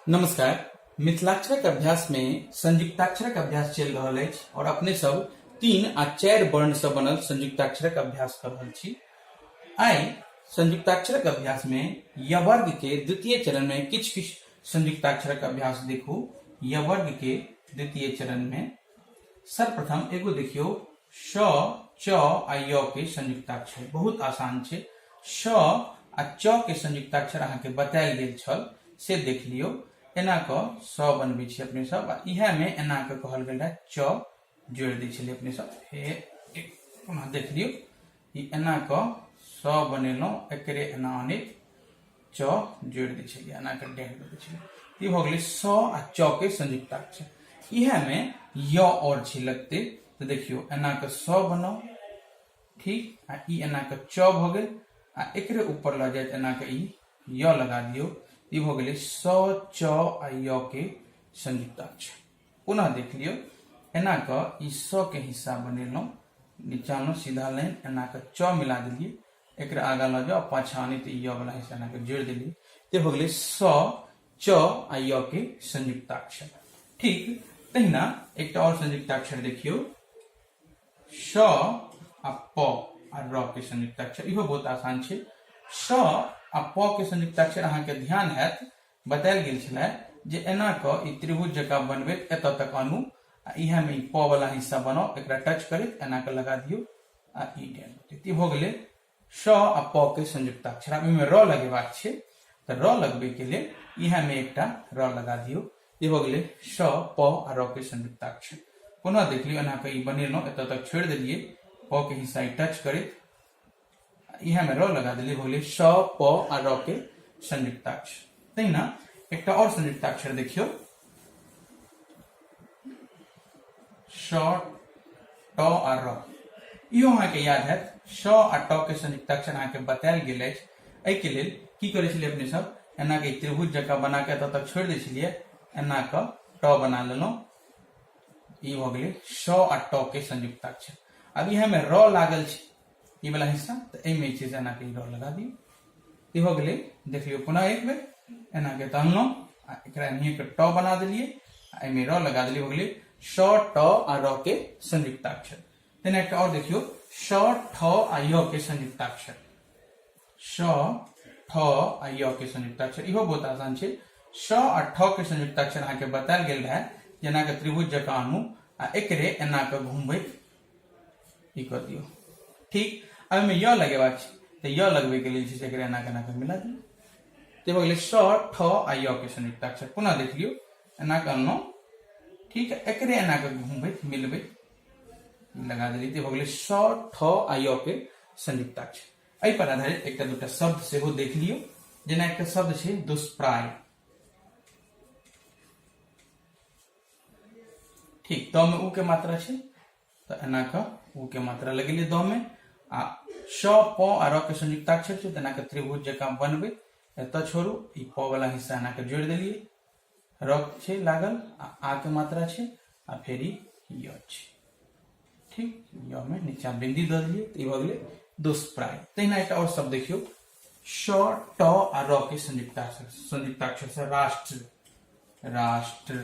नमस्कार मिथिलाक्षरक अभ्यास मे संयुक्ताक्षरक अभ्यास चलि रहल अछि और अपने सब तीन आ चारि वर्ण से बनल संयुक्ताक्षरक अभ्यास कर रहल छी आइ संयुक्ताक्षरक अभ्यास मे यवर्ग के द्वितीय चरण में किछु किछु संयुक्ताक्षरक अभ्यास देखू यवर्ग के द्वितीय चरण में सर्वप्रथम एगो देखियो श च आ य के संयुक्ताक्षर बहुत आसान छे श आ च के संयुक्ताक्षर अहा के बतायल गेल छल से देख लियो एना क स बनबे छी अपने सब आ इहा में एना क कहल गेल रहे च जोड़ दे छले अपने सब फेर पुनः देख लियो ई एना क स बनेलो एकरे एना अनेक च जोड़ दै छलियै एना कऽ डेह दऽ दै छलियै ई भऽ गेलै स आ च के संयुक्ताक्षर इएहमे य और छै लगते तऽ देखियौ एना कऽ स बनाउ ठीक आ ई एना कऽ च भऽ गेल आ एकरे ऊपर लऽ जायत एना कऽ ई य लगा दियौ ई भऽ गेलै स च आ य के संयुक्ताक्षर पुनः देख लियौ एना कऽ ई स के हिस्सा बनेलहुँ नीचाँमे सीधा लाइन एना कऽ च मिला देलियै एक आगा लऽ जाओ पाछा आनी तो य वाला हिस्सा अहाँके जोड़ देली तो हो गई स च आ य के संयुक्ताक्षर ठीक तहिना एक और संयुक्ताक्षर देखियो स आ प आ र के संयुक्ताक्षर इहो बहुत आसान है स आ प के संयुक्ताक्षर अहाँके ध्यान है बतायल गेल छलै जे एना क ई त्रिभुज जका बनबैत एत तक आनू आ इएहमे ई प वाला हिस्सा बनाओ एक टच करैत एना क लगा दियो आ ई टेन एते भऽ गेलै स आ प के संयुक्ताक्षर आब एहिमे र लगेबाक छै तऽ र लगबैके लेल इएहमे एकटा र लगा दियौ ई भऽ गेलै स प आ र के संयुक्ताक्षर पुनः देख लियौ एना कऽ ई बनेलहुँ एतऽ तक छोड़ि देलिए प के हिस्सा ई टच करैत इएहमे र लगा देलिए भऽ गेलै स प आ र के संयुक्ताक्षर तहिना एकटा आओर संयुक्ताक्षर देखियौ शॉ टॉ आ रॉ इहो अहाँके याद हैत शॉ आ टॉ के संयुक्त अक्षर अहाँके बतायल गेल अछि एहिके लेल की करै छलियै अपने सब एना के त्रिभुज जकाँ बना के एतऽ तक छोड़ि दै छलियै एना कऽ टॉ बना लेलहुँ ई भऽ गेलै शॉ आ टॉ के संयुक्त अक्षर अब यह में रॉ लागल छै ई वाला हिस्सा तऽ एहिमे जे छै से एनाके ई डर लगा दियौ ई भऽ गेलै देख लियौ पुनः एक बेर एनाके तहनलहुँ आ एकरा एनाहिएके ट बना देलियै आ एहिमे र लगा देलियै भऽ गेलै स ट आ र के संयुक्ताक्षर तहिना एकटा आओर देखियौ स ठ आ य के संयुक्ताक्षर स ठ आ य के संयुक्ताक्षर इहो बहुत आसान छै स आ ठ के संयुक्ताक्षर अहाँके बतायल गेल रहए जेनाके त्रिभुज जकाँ अनु आ एकरे एनाके घुमबैत ई कर दियो ठीक अब एहिमे य लगेबाक छै तऽ य लगबैके लेल छै से एकरा एना केना कऽ मिला दियौ ताहि भऽ गेलै स ठ आ य के संयुक्त अक्षर पुनः देख लियौ एना कऽ अनलहुँ ठीक है एकरे एना कऽ घुमबैत मिलबैत लगा देली तऽ भऽ गेलै स ठ आ य के संयुक्त अक्षर एहि पर आधारित एकटा दूटा शब्द सेहो देख लियौ जेना एकटा शब्द छै दुष्प्राय ठीक द में उ के मात्रा छे तो एना के उ के मात्रा लगेली द में आ श प आ र के संयुक्ताक्षर छे तना के त्रिभुज जका बनबे एत छोड़ू ई प वाला हिस्सा एना के जोड़ देलिए र छे लागल आ आ के मात्रा छे आ फिर ई य छे ठीक य में नीचा बिंदी द दिए तो ई भ गेले दुष्प्राय तहिना एक और शब्द देखियो श ट आ र के संयुक्ताक्षर संयुक्ताक्षर से राष्ट्र राष्ट्र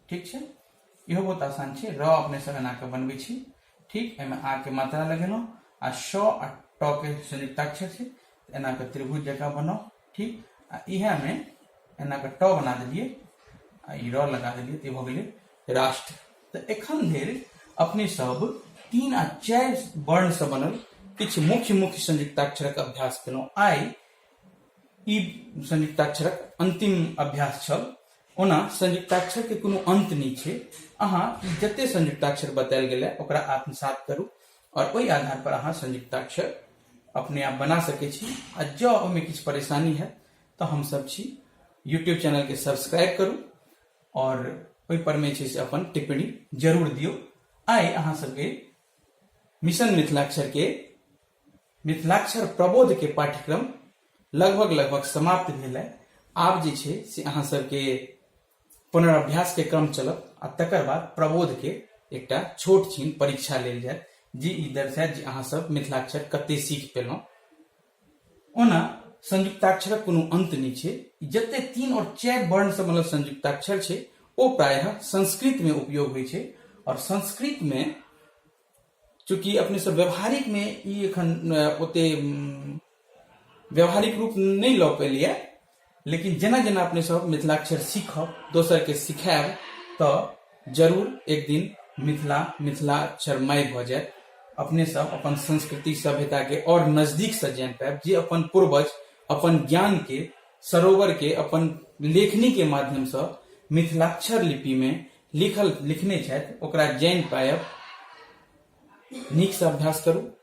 ठीक है इहो बहुत आसान है र अपने से एना के बनबे छी ठीक एहिमे आ के मात्रा लगेलहुँ आ श आ ट के संयुक्ताक्षर है एना के त्रिभुज जकाँ बनाउ ठीक आ इएहमे एना के ट बना दिलिए आ ई र लगा दिलिए तो भ गेलै राष्ट्र तऽ एखन धरि अपने सब तीन आ चारि वर्णसँ बनल किछु मुख्य मुख्य संयुक्ताक्षरक अभ्यास केलहुँ आइ ई संयुक्ताक्षरक अन्तिम अभ्यास छल ओना संयुक्ताक्षरके कोनो अन्त नहि छै अहाँ ई जते संयुक्ताक्षर बतायल गेलै ओकरा आत्मसात करू आओर ओहि आधार पर अहाँ संयुक्ताक्षर अपने आप बना सकै छी आ जँ ओहिमे किछु परेशानी हैत तऽ हमसभ छी यूट्यूब चैनलके सब्सक्राइब करू आओर ओहिपरमे छै से अपन टिप्पणी जरूर दियौ आइ अहाँ सबके मिशन मिथिलाक्षरके मिथिलाक्षर प्रबोधके पाठ्यक्रम लगभग लगभग समाप्त भेल है आब जे छै से अहाँ सबके पुनराभ्यासके क्रम चलत आ तकर बाद प्रबोधके एकटा छोट छीन परीक्षा लेल जायत जे ई दर्शायत जे अहाँ सब मिथिलाक्षर कते सीख पेलहुँ ओना संयुक्ताक्षरक कोनो अंत नहि छै जते तीन और चारि वर्ण से मतलब संयुक्ताक्षर छै ओ प्रायः संस्कृत में उपयोग होइ छै और संस्कृत में चूंकि अपने सब व्यवहारिक में ई एखन ओते व्यावहारिक रूप नहीं लऽ पेलिए लेकिन जेना जेना अपने सब मिथिलाक्षर सीखब दोसर के सिखायब तऽ जरूर एक दिन मिथिला मिथिलाक्षर माय भऽ जायत अपने सब अपन संस्कृति सभ्यता के और नजदीक से जान पायब जे अपन पूर्वज अपन ज्ञान के सरोवर के अपन लेखनी के माध्यम से मिथिलाक्षर लिपि में लिखल लिखने छथि ओकरा जान पायब नीक से अभ्यास करू